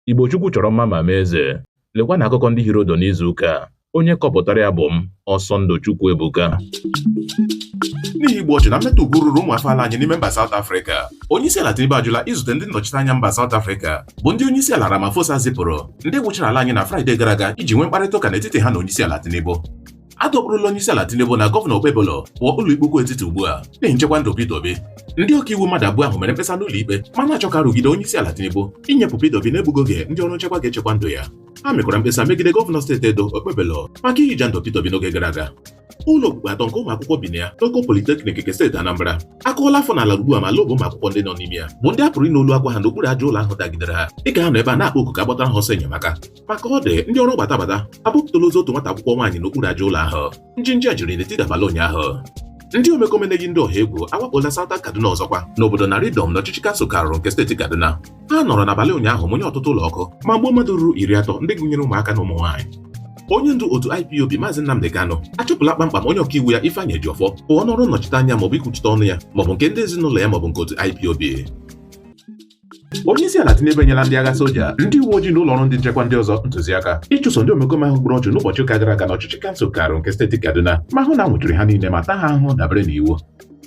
Igbo Chukwu chọrọ mma ma mee eze. Lekwa na akụkọ ndị hiri odo n'izu ụka a. Onye kọpụtara ya bụ m, Ọsọndụ Chukwuebuka. n'ihi igbu ọchụ na mmetọ ugwu ruru ụmụ afọ ala anyị n'ime mba South Africa onyeisiala Tinubu ajụla izute ndị nnọchiteanya mba South Africa bụ ndị onyeisiala Ramaphosa zipụrụ ndị wụchara ala anyị na Fraịde gara aga iji nwee mkparịta ụka n'etiti ha na onyeisiala Tinubu a dọkpụrụla onyeisiala Tinubu na gọvanọ Okpebholo pụọ ụlọikpe ukwu etiti ugbu a n'ihi nchekwa ndụ Peter Obi ndị ọkaiwu mmadụ abụọ ahụ mere mkpesa n'ụlọikpe ma na-achọ ka a rụgide onyeisiala Tinubu inyepụ Peter Obi n'egbughị oge ndị ọrụ nchekwa ga-echekwa ndụ ya ha mekwara mkpesa megide gọvanọ steeti Edo Okpebholo maka ihija ndụ Peter Obi n'oge gara aga ụlọ okpukpu atọ nke ụmụ akwụkwọ bi na ya n'Oko Polytechnic nke steeti Anambra akụọla afọ n'ala ugbu a ma lụọ bụ ụmụ akwụkwọ ndị nọ n'ime ya bụ ndị a pụrụ ịnụ olu akwa ha n'okpuru aja ụlọ ahụ dagidere ha dịka ha nọ ebe a na-akpọ oku ka a gbatara ha ọsọ enyemaka ma ka ọ dị ndị ọrụ gbata gbata abọpụtala ozu otu nwata akwụkwọ nwaanyị n'okpuru aja ụlọ ahụ njinji a jiri n'etiti abalị ụnyaahụ ndị omekome na-eyi ndị ọha egwu awakpola Southern Kaduna ọzọkwa n'obodo Naridom n'ọchịchị kansụl Kauru nke steeti Kaduna ha nọrọ n'abalị ụnyaahụ mụnye ọtụtụ ụlọ ọkụ ma gbuo mmadụ ruru iri atọ ndị gụnyere ụmụaka na ụmụ nwaanyị onye ndu otu IPOB Maazị Nnamdi Kanu achụpụla kpamkpam onye ọkaiwu ya Ifeanyi Ejiofor pụọ n'ọrụ nnọchite anya maọbụ ikwuchite ọnụ ya maọbụ nke ndị ezinụlọ ya maọbụ nke otu IPOB onyeisiala Tinubu enyela ndị agha soja ndị uwe ojii na ụlọ ọrụ ndị nchekwa ndị ọzọ ntụziaka ịchụso ndị omekome ahụ gburu ọchụ n'ụbọchị ụka gara aga n'ọchịchị kansụl Kauru nke steeti Kaduna ma hụ na a nwụchiri ha niile ma taa ha ahụhụ dabere n'iwu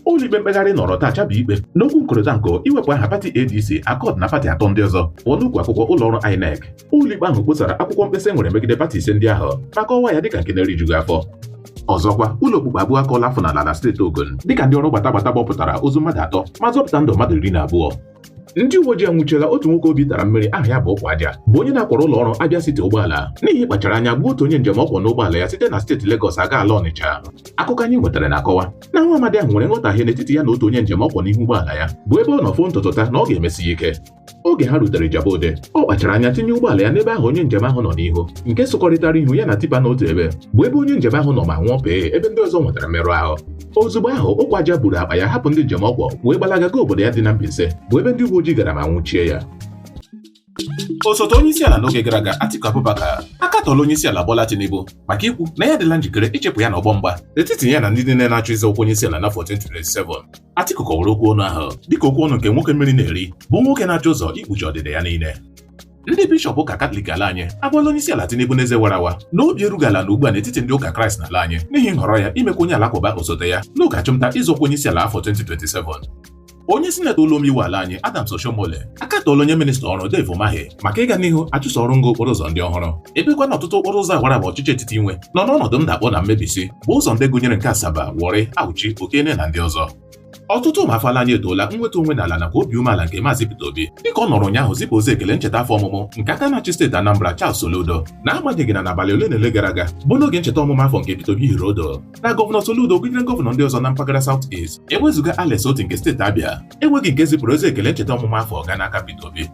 ụlọikpe mkpegharị nọrọ taa chabụ ikpe n'okwu nkorịta nko iwepụ aha pati ADC Accord na pati atọ ndị ọzọ pụọ n'ukwu akwụkwọ ụlọ ọrụ INEC ụlọikpe ahụ kposara akwụkwọ mkpesa e nwere megide pati ise ndị ahụ ma kọwaa ya dịka nke na-erijughị afọ ọzọkwa ụlọ okpukpu abụọ akụọla afọ n'ala na steeti Ogun dịka ndị ọrụ gbata gbata bọpụtara ozu mmadụ atọ ma zọpụta ndụ mmadụ iri na abụọ ndị uwe ojii anwụchiela otu nwoke obi tara mmiri aha ya bụ ụkwụ aja bụ onye na-akwọrọ ụlọ ọrụ Abia City ụgbọala n'ihi ịkpachara anya gbuo otu onye njem ọ kwọ n'ụgbọala ya site na steeti Lagos aga ala Ọnịcha akụkọ anyị nwetara na-akọwa na nwa amadi ahụ nwere nghọtahie n'etiti ya na otu onye njem ọ kwọ n'ihu ụgbọala ya bụ ebe ọ nọ foo ntutu taa na ọ ga-emesi ya ike oge ha rutere Ijebu Ode ọ kpachara anya tinye ụgbọala ya n'ebe ahụ onye njem ahụ nọ n'ihu nke sụkọrịtara ihu ya na tipa n'otu ebe bụ ebe onye njem ahụ nọ ma nwụọ pee ebe ndị ọzọ nwetara mmerụ ahụ ozugbo ahụ ụkwụ aja buru akpa ya hapụ ndị njem ọ kwọ wee gbalaga gaa obodo ya dị na Mbaise bụ ebe ndị uwe ojii gara ma nwụchie ya osote onye isi ala n'oge gara aga Atiku Abubakar akatọọla onye isi ala Bola Tinubu maka ikwu na ya adịla njikere ichepụ ya n'ọgbọ mgba etiti ya na ndị niile na-achọ ịzọ ọkwa onye isi ala n'afọ 2027 Atiku kọwara okwu ọnụ ahụ dịka okwu ọnụ nke nwoke mmiri na-eri bụ nwoke na-achọ ụzọ ikpuchi ọdịda ya niile ndị bishọp ụka katọlik ala anyị agwala onye isi ala Tinubu n'eze wara awa na obi erughị ala nọ ugbu a n'etiti ndị ụka kraịst n'ala anyị n'ihi nhọrọ ya imekwa onye alakụba osote ya n'oge achụmnta ịzọ ọkwa onye isi ala afọ 2027 onye sinetọ ụlọ omeiwu ala anyị Adams Oshiomhole akatọọla onye minista ọrụ Dave Umahi maka ịga n'ihu achụso ọrụ ngo okporo ụzọ ndị ọhụrụ ebekwa na ọtụtụ okporo ụzọ awara awa ọchịchị etiti nwe nọ n'ọnọdụ ndakpọ na mmebisi bụ ụzọ ndị gụnyere nke Asaba Warri Auchi Okene na ndị ọzọ ọtụtụ ụmụafọ ala anyị etoola nweda onwe n'ala nakwa obi umeala nke Maazị Peter Obi dịka ọ nọrọ ụnyaahụ zipụ ozi ekele ncheta afọ ọmụmụ nke aka na-achị steeti Anambra Charles Soludo na-agbanyeghị na n'abalị ole na ole gara aga bụ n'oge ncheta ọmụmụ afọ nke Peter Obi hiri odo na gọvanọ Soludo gụnyere gọvanọ ndị ọzọ na mpaghara South East ewezụga Alex Otti nke steeti Abia enweghị nke zipụrụ ozi ekele ncheta ọmụmụ afọ ga n'aka Peter Obi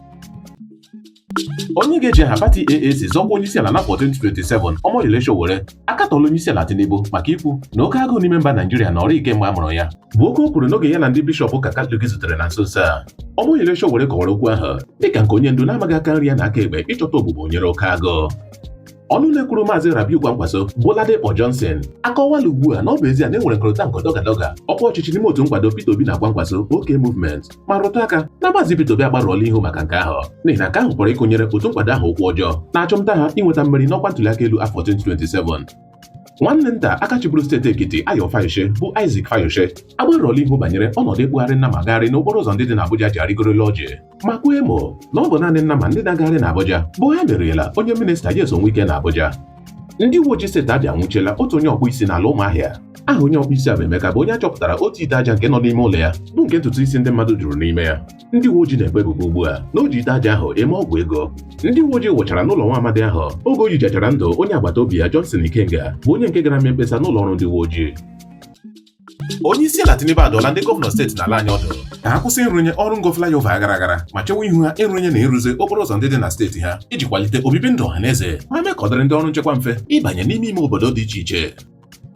onye ga-eji aha pati AAC zọkwa onyeisiala n'afọ 2027 Omoyele Sowore akatọọla onyeisiala Tinubu maka ikwu na oke agụụ n'ime mba Naijiria nọrọ kemgbe a mụrụ ya bụ okwu o kwuru n'oge ya na ndị bishọp ụka Katọlik zutere na nso nso a Omoyele Sowore kọwara okwu ahụ dịka nke onye ndu na-amaghị aka nri ya na aka ekpe ịchọta ogbugbo nyere oke agụụ ọnụ na-ekwuru maazị Rabiu Kwankwaso bụ Ladipo Johnson akọwala ugbu a na ọ bụ ezie na enwere nkọrịta nke dọgadọga ọkwa ọchịchị n'ime otu nkwado Peter Obi na Kwankwaso OK Movement ma rụtụ aka na maazị Peter Obi agbarụọla ihu maka nke ahụ n'ihi na nke ahụ pụrụ ịkụnyere otu nkwado ahụ ụkwụ ọjọọ na achọmnta ha inweta mmeri n'ọkwa ntụliaka elu afọ 2027 nwanne nta aka chịburu steeti Ekiti Ayo Fayose bụ Isaac Fayose agbarụọla ihu banyere ọnọdụ ịkpụgharị nnama agagharị n'okporo ụzọ ndị dị n'Abuja ji arịgoro elu ọjị ma kwaa emo na ọ bụ naanị nnama ndị na-agagharị n'Abuja bụ ha meriela onye minista Nyesom Wike n'Abuja ndị uwe ojii steeti Abịa anwụchiela otu onye ọkpụ isi n'ala Ụmụahịa aha onye ọkpụ isi a bụ Emeka bụ onye a chọpụtara otu ite aja nke nọ n'ime ụlọ ya bụ nke ntutu isi ndị mmadụ juru n'ime ya ndị uwe ojii na-ekpe ebubo ugbu a na o ji ite aja ahụ eme ọgwụ ego ndị uwe ojii wụchara n'ụlọ nwa amadi ahụ oge o yichachara ndụ onye agbata obi ya Johnson Ikenga bụ onye nke gara mee mkpesa n'ụlọ ọrụ ndị uwe ojii onye isi ala Tinubu adụọla ndị gọvanọ steeti n'ala anyị ọdụ ka ha kwụsị ịrụnye ọrụ ngo flyover aghara aghara ma chewa ihu ha ịrụnye na ịrụzi okporo ụzọ ndị dị na steeti ha iji kwalite obibi ndụ ọha na eze ma mee ka ọ dịrị ndị ọrụ nchekwa mfe ịbanye n'ime ime obodo dị iche iche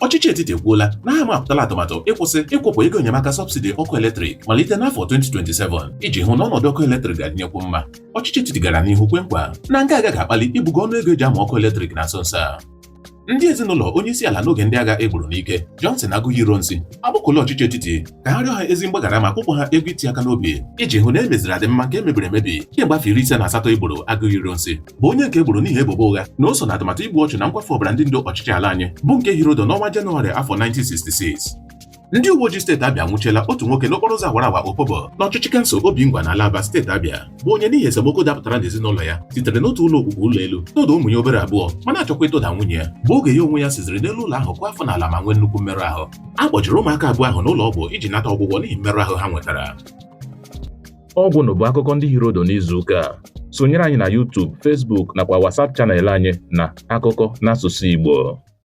ọchịchị etiti ekwuola na ha amapụtala atụmatụ ịkwụsị ịkwụpụ ego enyemaka sọbsidi ọkụ eletrik malite n'afọ 2027 iji hụ na ọnọdụ ọkụ eletrik ga-adịnyekwu mma ọchịchị etiti gara n'ihu kwe nkwa na nke a agaghị akpali ibugo ọnụ ego eji amụ ọkụ eletrik na nso nso a ndị ezinụlọ onye isi ala n'oge ndị agha egburu n'ike Johnson Aguiyi Ironsi akpọkuola ọchịchị etiti ka ha rịọ ha ezi mgbaghara ma kwụpụ ha ego iti aka n'obi iji hụ na e meziri adịmma nke emebiri emebi kemgbe afọ iri ise na asatọ egburu Aguiyi Ironsi bụ onye nke egburu n'ihi ebubo ụgha na o so na atụmatụ igbu ọchụ na nkwafu ọbara ndị ndu ọchịchị ala anyị bụ nke hiri odo n'ọnwa Jenụwarị afọ 1966 ndị uwe ojii steeti Abịa anwụchiela otu nwoke n'okporo ụzọ awara awa Opobo n'ọchịchị kansụl Obingwa n'ala Aba steeti Abịa bụ onye n'ihi esemokwu dapụtara n'ezinụlọ ya sitere n'otu ụlọ okpukpu ụlọ elu tụda ụmụ ya obere abụọ ma na-achọkwa ịtụda nwunye ya bụ oge ya onwe ya siziri n'elu ụlọ ahụ kụọ afọ n'ala ma nwee nnukwu mmerụ ahụ a kpọjere ụmụaka abụọ ahụ n'ụlọ ọgwụ iji nata ọgwụgwọ n'ihi mmerụ ahụ ha nwetara ọ gwụla bụ akụkọ ndị hiri odo n'izu ụka a sonyere anyị na YouTube, Facebook nakwa WhatsApp chanel anyị na akụkọ n'asụsụ Igbo